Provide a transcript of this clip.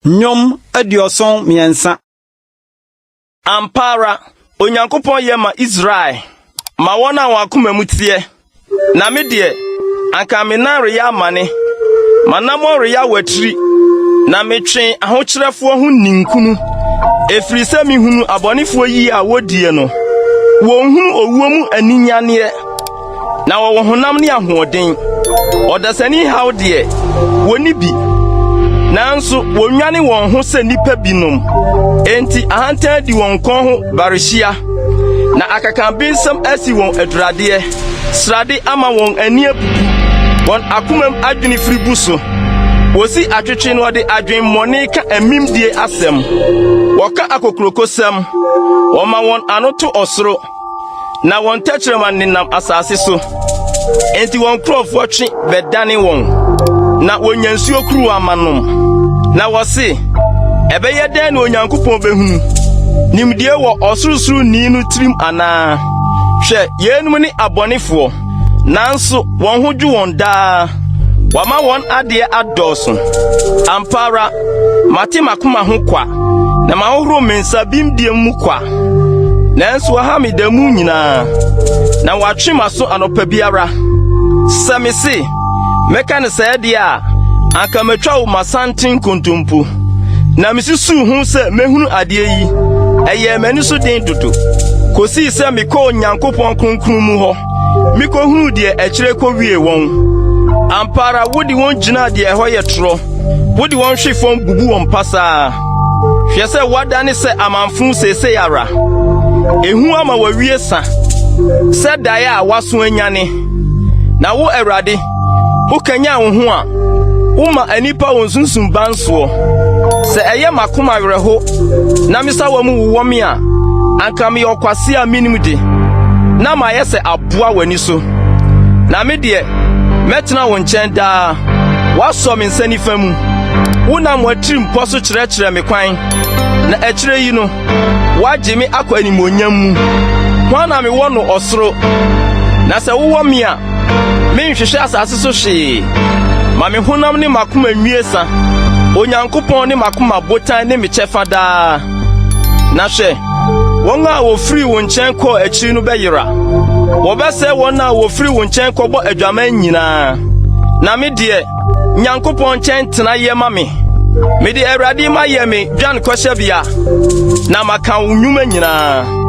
Nnwom aduɔson mmiɛnsa. Ampa ara, Onyankopɔn yɛ ma Israel, ma wɔn a wɔn akoma mu teɛ. Na me deɛ, anka me nan reyɛ amane, m'anammɔn reyɛ awatiri, na metwee ahokyerɛfoɔ ho ninkunu. Ɛfiri sɛ mehunu abɔnefoɔ yie a wɔdie no, wɔnhunu owuo mu aninyanneɛ, na wɔwɔ honam ne ahoɔden. Ɔdasani haw deɛ, wɔnni bi, nanso wɔnwane wɔn ho sɛ nnipa binom. Enti ahantan di wɔn kɔn ho barehyia, na akakanbensɛm asi wɔn aduradeɛ. srade ama wɔn ani abubu, wɔn akomam adwene firi gu so. Wosi atwetwe na wɔde adwemmɔne ka amimdie asɛm. Wɔka akokurokosɛm, wɔma wɔn ano to ɔsoro, na wɔn tɛkyerɛma nenam asase so. Enti wɔn nkurɔfoɔ twe bɛdane wɔn, na wɔnya nsuo kuruwa ma nom. Na wɔse, ɛbɛyɛ dɛn na Onyankopɔn bɛhunu? Nimdeɛ wɔ Ɔsorosoroni no tirim anaa? Hwɛ, yeinom ne abɔnefoɔ, nanso wɔn ho dwo wɔn daa. Wama wɔn adeɛ adɔɔso. Ampa ara, mate m'akoma ho kwa, na mahohoro me nsa bimdeɛ mu kwa. Nanso waha me da mu nyinaa, na watwe m'aso anɔpa biara. Sɛ me se, Mɛka no sɛɛ deɛ a, anka matwa wo m'asante nkontompo. Na mesusuu ho sɛ mɛhunu adeɛ yi, ɛyɛɛ m'ani so den dodo, kosii sɛ mekɔɔ Onyankopɔn kronkron mu hɔ, mekɔhunuu deɛ akyire kɔwiee wɔn. Ampa ara wode wɔn gyinaa deɛ ɛhɔ yɛ torɔ, wode wɔn hwe fam bubu wɔn pasaa. Hwɛ sɛ woadane sɛ amamfõ seesei ara, ehu ama w'awie sa sɛ daeɛ a wɔaso anyane. Na wo Awurade, wokanyan wo ho a, woma nnipa wɔn sunsum ban soɔ. Sɛ ɛyɛ m'akoma werɛho na me sawa mu wowɔ me a, anka meyɛ ɔkwase a menim de, na mayɛ sɛ aboa w'ani so. Na me deɛ, mɛtena wo nkyɛn daa, woasɔ me nsa nifa mu. Wonam w'atirimpɔ so kyerɛkyerɛ me kwan, na akyire yi no, Woagye me akɔ animuonyam mu. Hwan na mewɔ no ɔsoro? Na sɛ wowɔ me a, menhwehwɛ asase so hwee. Ma me honam ne m'akoma nwie sa. Onyankopɔn ne m'akoma botan ne me kyɛfa daa. Na hwɛ, wɔn a wɔfiri wo nkyɛn kɔɔ akyiri no bɛyera. Wɔbɛsɛe wɔn a wɔfiri wo nkyɛn kɔbɔ adwaman nyinaa. Na me deɛ, Nyankopɔn nkyɛn tena yɛ ma me. Mede Awurade ma yɛ me dwan kɔhyɛbea, na maka wo nnwuma nyinaa.